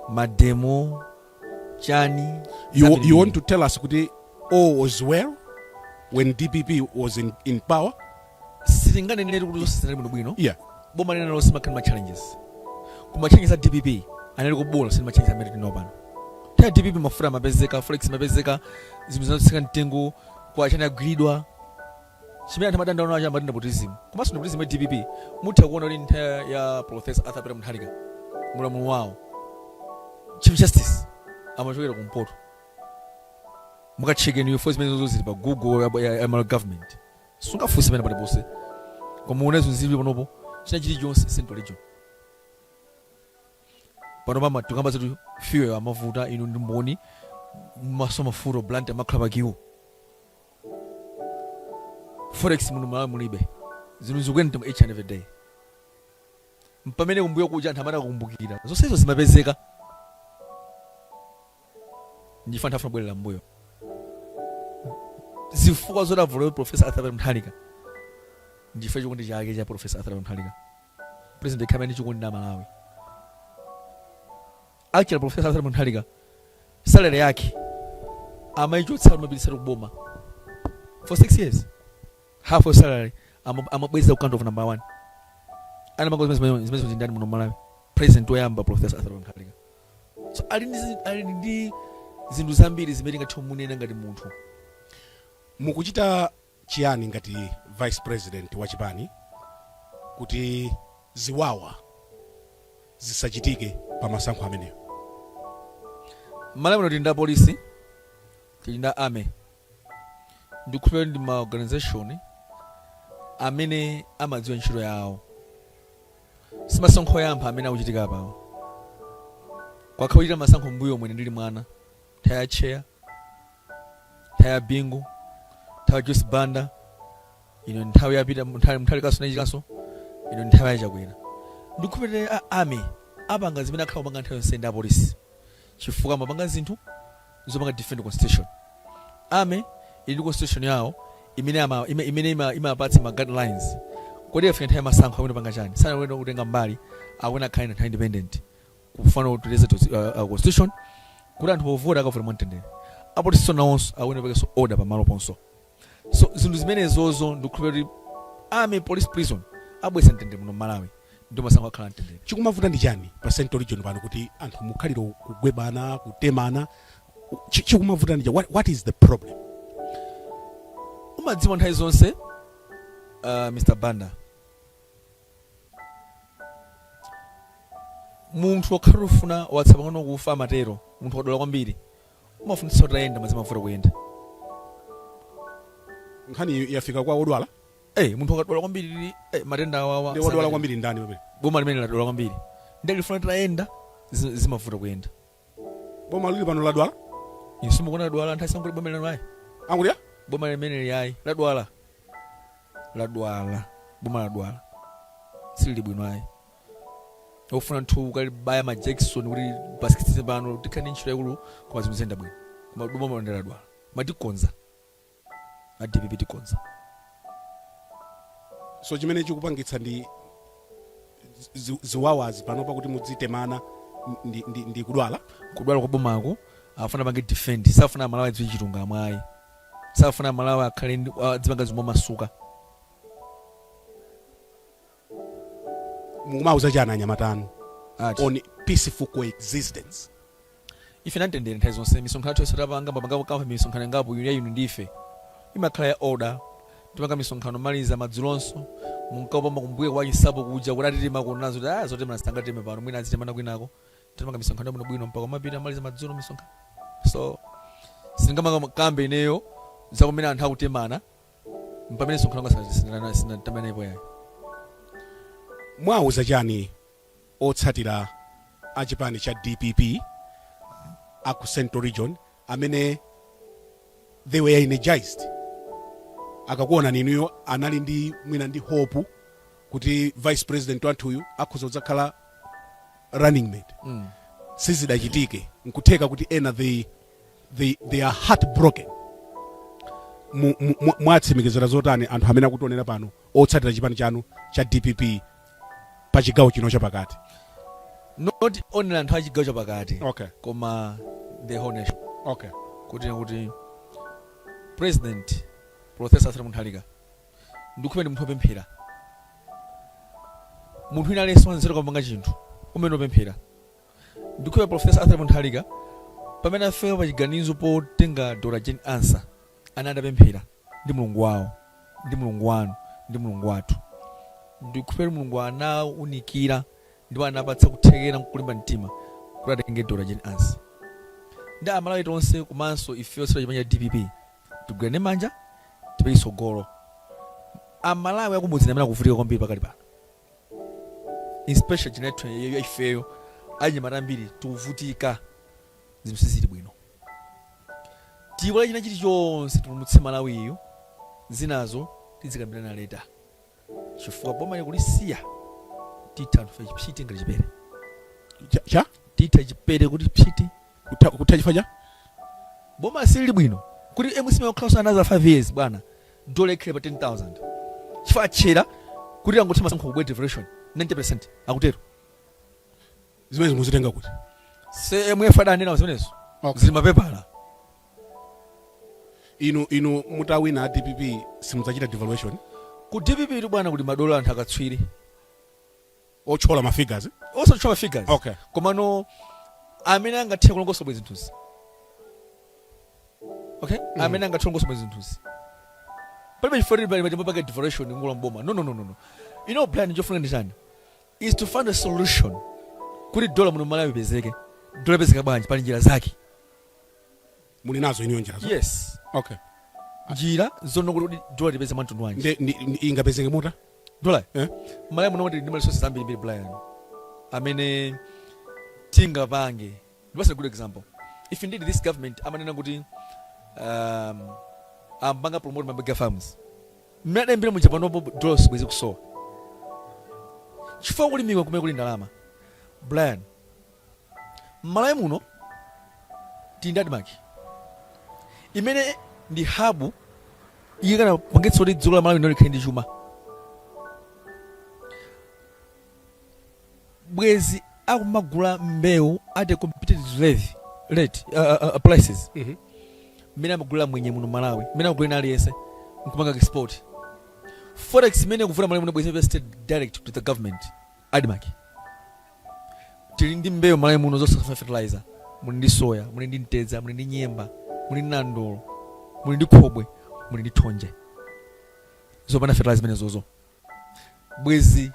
mademo chani You, zambiri you want mbiri. to tell us kuti all was well when DPP was in, in power? sitinganenere kuti zonse zinali bwinobwino Yeah. boma lililonse limakhala ndi ma challenges koma ma challenges a dpp anali obola si ma challenges amene tili nawo pano nthawi ya dpp mafuta amapezeka forex imapezeka zinthu zinatsika mtengo kwa achani agwiridwa Chimene anthu amadandaula nacho amati nepotism komanso nepotism ya dpp mutha kuona kuti nthawi ya Professor Arthur Peter Mutharika muulamuliro wawo Chief Justice amachokera kumpoto mukatcheke info zimenezi zonse zili pa Google ya, ya, ya Malawi government simungafunse pena paliponse koma muone zinthu zili panopo china chilichonse central region panopa ma tikamba zoti fuel amavuta inu ndi mboni masoma fuel Blantyre amakhala pa queue forex muno m'Malawi mulibe zinthu zikukwera each and every day pamene kumbuyo kuja anthu amene akukumbukira zonsezo zimapezeka ndichifukwa anthu afuna abwerere mbuyo zifukwa zoti avotere Professor Arthur Mutharika ndichifukwa chikondi chake cha Professor Arthur Mutharika president yekha amene ali ndi chikondi ndi aMalawi Actually Prof. Arthur Mutharika salary yake amaichotsa amapititsa ku boma for 6 years half of salary amabweza ku account number 1 anapangapo zimene zimene zija ndani muno Malawi president woyamba Professor Arthur Mutharika so ali ndi ali ndi zinthu zambiri zimene tingathe kumunena ngati munthu mukuchita chiyani ngati vice president wa chipani kuti ziwawa zisachitike pa masankho amenewo? Mmalawi muno tili ndi apolisi, tili ndi a army, ndikukhulupirira kuti ndi ma organisation amene amadziwa ntchito yawo. Simasankho oyamba amene akuchitika panowa. Kwakhala kuchitika masankho mmbuyomu ine ndili mwana, nthawi ya Tcheya. nthawi ya bingu nthawi ya joyce banda ino nthawi ya peter mutharika so nachikanso ino nthawi ya chakwera ndikukhulupirira a army apanga zimene akhala akupanga nthawi yonse ndi apolisi chifukwa amapanga zinthu zopanga defend constitution army ili ndi constitution yawo imene ama- ime- imene ima- imapatsa ma guidelines kodi ikafika nthawi ya masankho ayenera kupanga chani sayenera kutenga mbali akuyenera akhale na nthawi independent kufuna kuteteza to, uh, uh, constitution kuti anthu ovota akavote mwamtendere apolisinso nawonso aone pakhalenso order pamalo ponse so zinthu zimenezozo ndikukhulupira kuti army police prison abweretsa mtendere muno mmalawi ndi masankho akhala amtendere chikumavuta ndi chani pa central region pano kuti anthu mukhalira kugwebana kutemana Chi- chikumavuta ndi chani what, what is the problem mumadziwa nthawi zonse uh, mr banda Munthu wokhala ufuna watsala pang'ono kufa amatero munthu akadwala kwambiri. Umafunitsitsa utayenda koma zimavuta kuyenda. Nkhaniyi yafika kwa wodwala. Hey, munthu akadwala kwambiri hey, matenda awawa. Ndi wodwala kwambiri ndani pamene? Boma limeneli ladwala kwambiri. Ndiye lifuna litayenda zimavuta kuyenda. boma lili pano ladwala Inunso mukuona ladwala anthu asangoti boma lino ayi angulia boma limeneli ayi ladwala ladwala boma ladwala silili bwino ayi ofuna munthu okalibaya majakisoni kuti pasikitse pano tikhala ndi ntchito yaikulu koma zinthu ziyenda bwino koma boma lino ladwala koma tikonza a dpp tikonza. So chimene chikupangitsa ndi zi, ziwawazi panopa kuti mudzitemana ndi, ndi, ndi kudwala kudwala kwa bomako afuna apange defend safuna amalawi adziwe chilungamo ayi safuna amalawi akhale ndi- adzipanga zinthu momasuka mukuwauza chani anyamata anu Ati. on peaceful coexistence ife ndi amtendere nthawi zonse misonkhano yathu yonse tapanga mapanga kama misonkhano ingapo yuli yayinu ndife imakhala ya order timapanga misonkhano maliza madzulonso munkapamba kumbuyo kwa chinsapo kuja kuti atitema kunazo kuti ah zotemana sitingateme pano mwina azitemana kwinako timapanga misonkhano yabwino bwino mpaka mapita maliza madzulo misonkhano so sindingamakambe ineyo za kumene anthu akutemana pamene msonkhano wanga sana sindinana sitinatemanepo yayi muwauza chani otsatira a chipani cha dpp a ku central region amene they were energized akakuonani inuyo anali ndi mwina ndi hope kuti vice president wathuyu akhoza kudzakhala running mate sizidachitike nkutheka kuti ena they they, they are heartbroken Mu- mu- mu- mwatsimikizira zotani anthu amene akutionera pano otsatira chipani chanu cha dpp pa chigawo chino chapakati not only anthu achigawo chapakati okay koma the whole nation okay kuti kuti president professor Arthur Mutharika ndikukhulupira ndi munthu opemphera munthu wina aliyense wanzeru popanga chinthu umayenera kupemphera Ndikukhulupira Prof. Arthur Mutharika pamene afika pa chiganizo potenga Dr Jane Ansah anali atapemphera ndi Mulungu wawo ndi Mulungu wanu ndi Mulungu wathu. Ndikukhulupira kuti Mulungu anawaunikira ndipo anawapatsa kuthekera nkulimba mtima kuti atenge Dr Jane Ansah. Ndi a Malawi tonse komanso ife otsatira chipani cha dpp tigwirane manja tipite chitsogolo. A Malawi akumudzi ndi amene akuvutika kwambiri pakali pano. especially generation ya ifeyo anyamata ambiri tikuvutika zinthu sizili bwino tiiwale china chilichonse tipulumutse malawiyu zinazo tidzakambirana later chifukwa bomali kulisiya titha anthu fe chipsiti ngati chipere Cha- cha titha chipere kuti psiti kutha kutha chifukwa cha boma silili bwino kuti mcp ikakhalanso another 5 years bwana dola ikhala pa 10000 chifukwa atchera kuti akangotha masankho kubwera devaluation 90% akutero zimene mukuzitenga kuti imf adanena zimenezo Okay. zili m'mapepala inu inu mutawina a dpp simudzachita devaluation ku dpp tu bwana kuli madolo anthu akatswiri otchola ma figures osatchula figures Okay. komano amene angathe kulongosola bwino zinthuzi okay amene angathe kulongosola bwino zinthuzi palibe chifukwa chilichonse chopangira devaluation mukalowa m'boma no no no no no you know plan chofunika ndi chani is to find a solution kuti dola muno malawi ipezeke dola ipezeka bwanji pali njira zake muli nazo inuyo njirazo yes okay njira zoti kuti kuti dola ipezeke mwa mtundu wanji nde ndi- ndi- ingapezeke motani dola Eh? malawi muno tili ndi ma resources zambirimbiri brian amene tingapange ndikupatseni a good example if indeed this government amanena kuti um, akanapanga promote ma mega farms mmene adayambira muja panopo dola sibwezi ikusowa chifukwa ku ulimi ndi kumene kuli ndalama brian M'Malawi muno tili ndi Admarc imene ndi hub ikanapangitsa kuti dziko la Malawi lino likhale ndi chuma, bwezi akumagula mbewu at a competitive rate, rate uh, uh, uh, prices Mhm. mmene amagulira mwenye muno Malawi, mmene amagulira aliyense nkumapanga export forex imene ikuvuta Malawi muno bwezi ikupita straight direct to the government Admarc tili ndi mbewu m'Malawi muno zosafuna fertilizer, muli ndi soya, muli ndi mtedza, muli ndi nyemba, muli ndi nandolo, muli ndi khobwe, muli ndi thonje. Zopanda fertilizer zimenezozo bwezi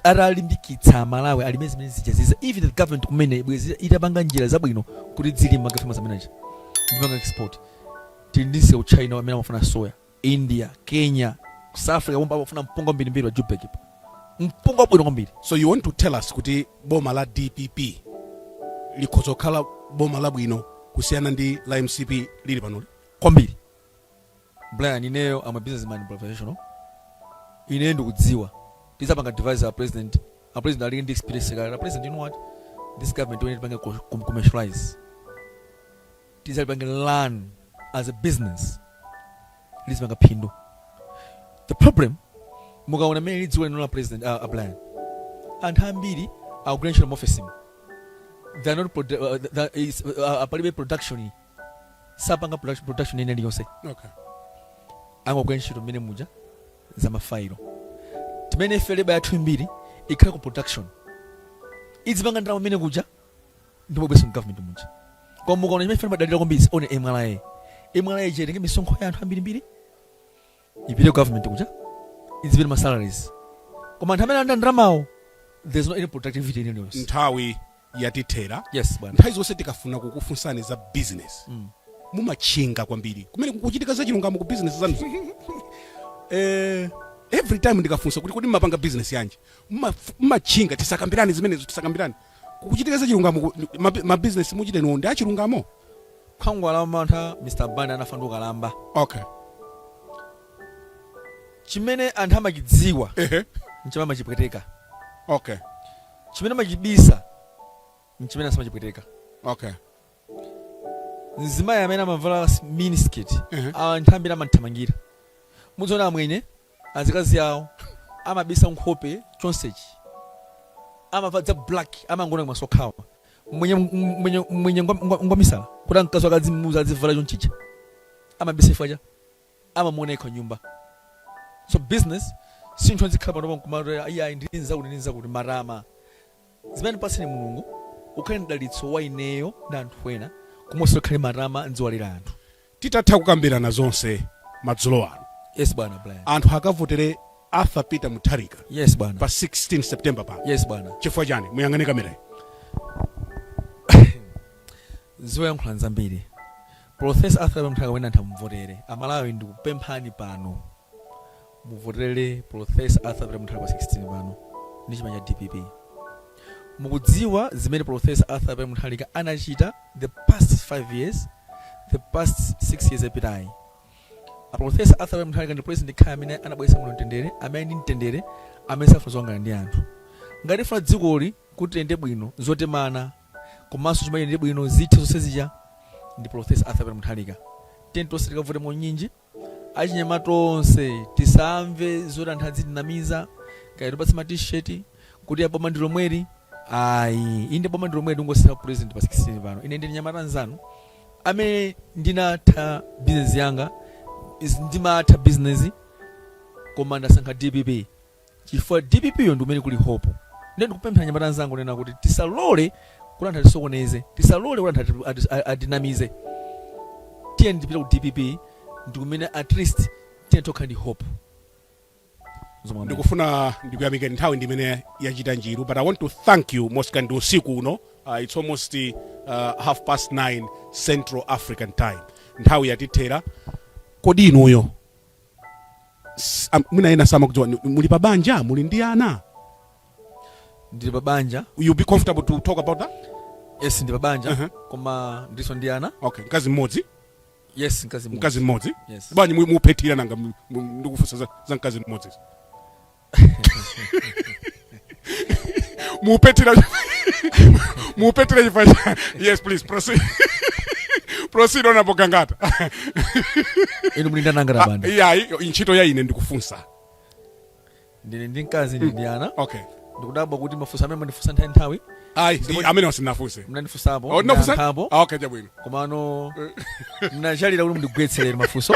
atalimbikitsa Malawi alime zimene zijazizo even the government kumene bwezi itapanga njira zabwino kuti adzilima ma farmers amene aja ndipanga export tili ndi msika wa China amene amafuna soya India, Kenya, ku South Africa pompa amafuna mpunga wambirimbiri pa Joburg pa. Mpunga wabwino kwambiri. So you want to tell us kuti boma la DPP likhoza kukhala boma labwino kusiyana ndi la MCP lili panoli? kwambiri brian ineyo am a businessman professional ine ndikudziwa tidzapanga advise our president our president alili ndi experience kale our president you know what this government when tipange commercialize tidzalipange run as a business lizipanga phindu the problem mukaona mmene dziko lino la president uh, a Brian anthu ambiri akugwira ntchito maofesimu they are not produ- uh, that is, uh, uh, palibe production sapanga production, production ina iliyonse okay angogwira ntchito mmene muja za mafailo pamene ife leba yathu yambiri ikhale ku production idzipanga ndalama mmene kuja n'kumabweretsa m'government muja koma mukaona chimene ife timadalira kwambiri one mra mra itenge misonkho ya anthu ambirimbiri ipite ku government kuja izipeya ma salaries koma anthu amene alandira ndalamawo there's no any productivity in any nthawi yatithera yes bwana nthawi zonse tikafuna kukufunsani za business Mm. mumatchinga kwambiri kumene kukuchitika za chilungamo ku business zanu eh, every time ndikafunsa kuti kodi mmapanga business yanji Mumaf- mumatchinga tisakambirane zimenezo tisakambirane Kukuchitika zachilungamo ku mabi- mabizinesi muchita inuwo ndi achilungamo? khwangwala wamantha Mr Banda anafa ndi ukalamba Okay. chimene anthu amachidziwa Ehe. nchimene amachipweteka Okay. chimene amachibisa nchimene samachipweteka Okay. mzimayi amene amavala s- miniskirt Ehe. anthu ambiri amamthamangira muziona amwenye azikazi awo amabisa nkhope chonsechi amavala za black amangoona kumaso kokhawa mmwenye mmwenye mmwenye ngwa- ngwa- ngwamisala kuti mkazi wake adzimuuza adzivala chonchicha amabisa chifukwa choti amamuona yekha m'nyumba so business si munthu uzikhala panopa n'kumati iyayi ndili nzakuti ndili nzakuti matama zimene wakupatsa mulungu ukhale mdalitso wa ineyo ndi anthu ena osakhala matama n'kuiwala anthu Titatha kukambirana zonse madzulo ano, Yes bwana Brian. anthu akavotere Arthur Peter Mutharika Yes bwana. pa 16 September pano. Yes bwana. Chifukwa chani? Muyang'ane kamera. Zoyankhula nzambiri. Professor Arthur Mutharika wina atha kumuvotera. Amalawi ndikupemphani pano. muvotere professor arthur peter mutharika pa 16 pano ndi chipani cha dpp mukudziwa zimene professor arthur peter mutharika anachita the past 5 years the past 6 years yapitayi a professor arthur peter mutharika ndi president khala amene anabweretsa muno mtendere amene ndi mtendere amene safuna zokangana ndi anthu ngati tifuna dzikoli kuti liyende bwino zotemana komanso chimayende bwino zithe zonse zija ndi professor arthur peter mutharika tiyeni tonse tikavote monyinji Achinyamata onse tisamve zoti anthu adzitinamiza kaya atipatse ma t-shirt kuti boma ndi lomweli ayi. Inde boma ndi lomweli tingosintha president pa 16 pano. Ine ndine mnyamata mnzanu amene ndinatha business yanga, ndimatha business koma ndasankha dpp. chifukwa dpp yo ndikumene kuli hope nde ndikupemphera anyamata anzanga kunena kuti tisalole kuti anthu atisokoneze tisalole kuti anthu ati- ati- a- atinamize tiyeni tipite ku dpp ndikumene at least tiyeni tokhala ndi hope Zomwe amene. ndikufuna ndikuyamikeni nthawi ndimene yachita njiru but i want to thank you most kindly usiku uno uh, it's almost uh, half past 9 central african time nthawi yatithera kodi inuyo S- am- mwina ena samakudziwa ni- muli pa banja muli ndi ana ndili pa banja you be comfortable to talk about that yes ndili pa banja Uh-huh. koma ndilinso ndi ana okay mkazi mmodzi yes mkazi mmodzi. mkazi mmodzi Yes. bwanji mu- muphethira nanga mu- mu- ndikufunsa za- za mkazi mmodzi muphethira muphethira chifukwa cha- yes please proceed proceed honorable gangata inu muli ndi ana angati a banda iyayi ntchito ya ine ndikufunsa ndili ndi mkazi ndili ndi ana okay ndikudabwa kuti mafunso amene mandifunsa nthawi nthawi ayi ndi- amenewa sindinafunse mnandifunsapo Oh, ndinafunsa? mnayankhapo. Ah, okay chabwino komano mnachalira kuti mundigwetserere mafunso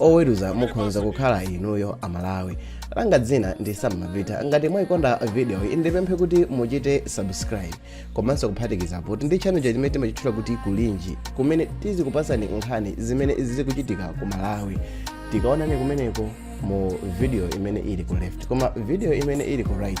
oweruza mukhonza kukhala inuyo amalawi langa dzina ndi sam mavita ngati mwayikonda video iyi ndipemphe kuti muchite subscribe komanso kuphatikizapo tili ndi channel china chimene timachitchula kuti kulinji kumene tizikupasani nkhani zimene zikuchitika ku malawi tikaonane kumeneko mu video imene ili ku left koma video imene ili ku right